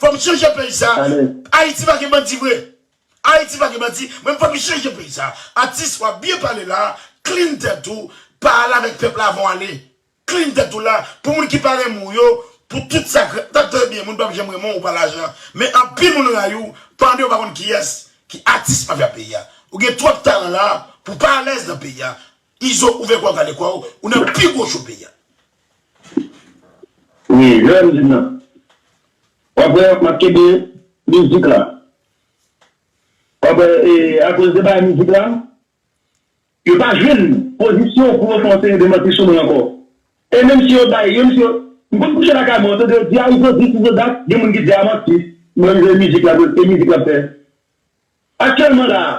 Fòm chanje peyi sa ayiti pa gen bandi vre ayiti pa gen bandi men fòm chanje peyi sa atis wap byen pale la klin tèt ou pa al avèk pèp la avan w ale klin tèt ou la pou moun ki pa renmen w yo pou tout sa tap trè byen moun pap janm renmen w ou pa lajan men anpil moun rayi w pande w pa konn kiyès ki atis mafya peyi a ou gen twòp talan la pou pa alèz nan peyi a izo ouvè kò w kale kò w ou nan pi gwo cho peyi a. Wi jèn nan. Wap wè map kenbe mizik la. Wap wè e akoz de bagay mizik la yo pa jwenn pozisyon pou yo fè yon seri de manti sou mwen ankò. E menm si yo bay menm si yo m konn kouche lakay mwen otè de yo di a izo dis izo dat gen moun ki di a manti mwen jwe mizik la e mizik lap fè. Aktyèlman la a.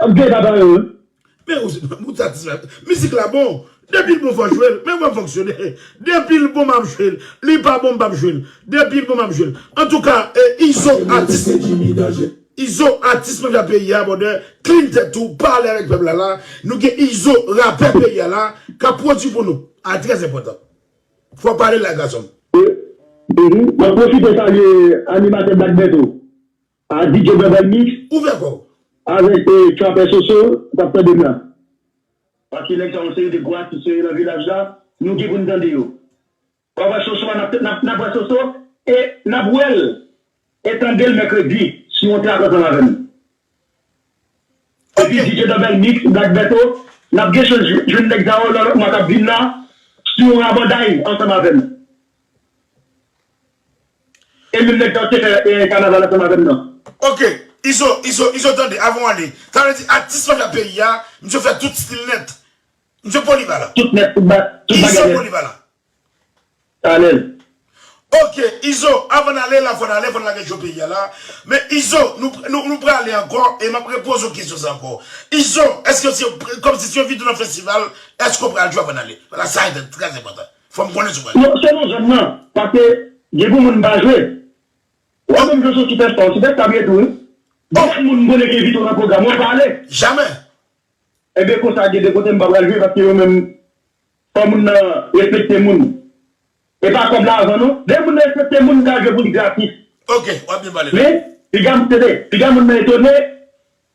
Ap gen papa yo wi. Men ou ou satisfè. Mizik la bon. Depil bon fò jwel. Men vwam fonksyone. Depil bon map jwel. Li pa bon mpap jwel. Depil bon map jwel. Antouka izo atis izo atis mafya peyi a bòdè klin tèt ou pa ale avèk pèp la la nou gen izo rapè peyi a la kap pwodwi pou nou a trè enpòtan fò w pale la gasonm. Map pwofite salye animatè black bertho. Ah DJ Bèbèl mix Ouvè kò w. Avèk Trapè Soso ou tap tande m la. Wap ki nèg sa yon seri de gwo atis yo ye nan vilaj la nou gen pou n tande yo wap wè Soso a nap wè Soso e nap wè l e tande l mèkredi sou yon trak ansanm avè m epi DJ Bèbèl mix Black Bertho nap gen chans jwenn nèg sa yo nan lòt mwa kap vin la sou yon rabanday ansanm avè m. E menm nèg kap te fè kanaval ansanm avèm nan. Ok izo izo izo tande avan w ale sa vle di atis majè peyi a misye fè tout stil nèt misye polivalan Tout nèt tout ba tout bagay izo nèt polivalan Alèz. Ok izo avan n ale la fò n ale fò n lage cho peyi a la men izo nou nou prale ankò e map repoze w kesyon sa ankò izo èske se kòmsi se yon videyo nan festival èske w pral jwe avan n ale paske sa trè enpòtan. Fòm konnen sou pral. Yo se nan zòn nan paske gen pou moun pa jwe wap menm jan sosipèsta ou sipèsta vre tou wi. Bof moun mkonnen gen vito nan program wap pa ale. Jamè. Ebyen konsa gen de kote mpa pral jwe paske yo menm fò moun nan respekte moun epa kòb la avan non lè moun nan respekte moun ka jwe pou li gratis. Ok wap byen pale la. Men piga msede piga moun nan etone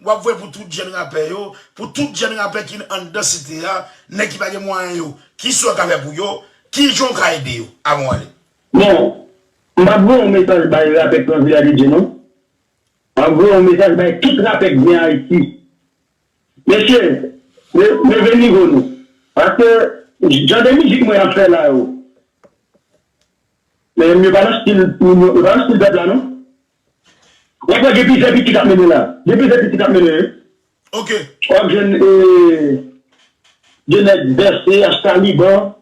Wap voye pou tout jèn rapè yo, pou tout jèn rapè ki anndan site a, nèg ki pa gen mwayen yo, kisa w ka fè pou yo, kijan w ka ede yo? Avan w ale. Bon, m pap voye yon mesaj bay rapè k nan Vila de Dye non. Map voye yon mesaj bay tout rapè k gen Ayiti. Mesye, leve nivo nou. Paske, jan de mizik mwen ap fè la yo, men yo pa nan stil, yo pa nan stil pèp la non. Wap wè gen plizyè pitit ap mennen la. Gen plizyè pitit ap mennen wi. Ok. Wap jwenn e de nèg vèse as taliban,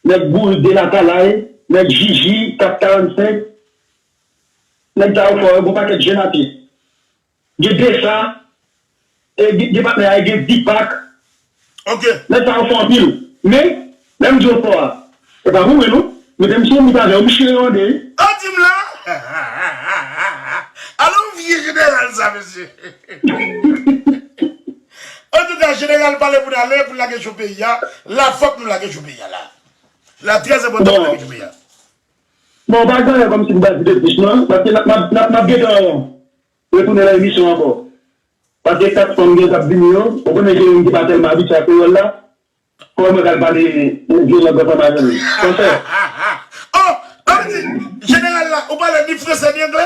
nèg bourik de latalay, nèg jiji, kap 45. Nèg sa yo fò yo gon pakèt jèn atis. Gen desa e gen patnè a e gen Deepak. Nèg sa yo fò anpil. Men, lè m di yo fò a, se pa pou mwen non. Mete m sou yon mit avè yo, m chire yo an 2 wi. An di m la! Alon vye jeneral sa mesye! Antouka jeneral pale pou n ale pou n lage jou peyi a. La fòk nou lage jou peyi a la. La trè enpòtan pou n lage jou peyi a. Bon pa gen anyen komsi pou bay koute plis non paske nap nap nap gentan retounen nan emisyon an anko paske 4 fanm gen kap vini yo ou konnen gen youn ki pa telman abitye ak kreyol la koman mwen pral pale yon vye lang ansanm avèl san fè. Hahahaha oh sa vle di jeneral la ou pale ni fransè ni anglè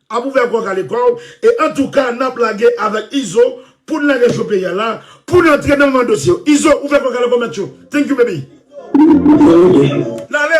Ap ouvè kòw kale kòw e antouka nap lage avèk izo poun lage cho peyi a la poun antre nan moman dosye yo izo ouvè kòw kale kòw mèt yo thank you baby. Lale!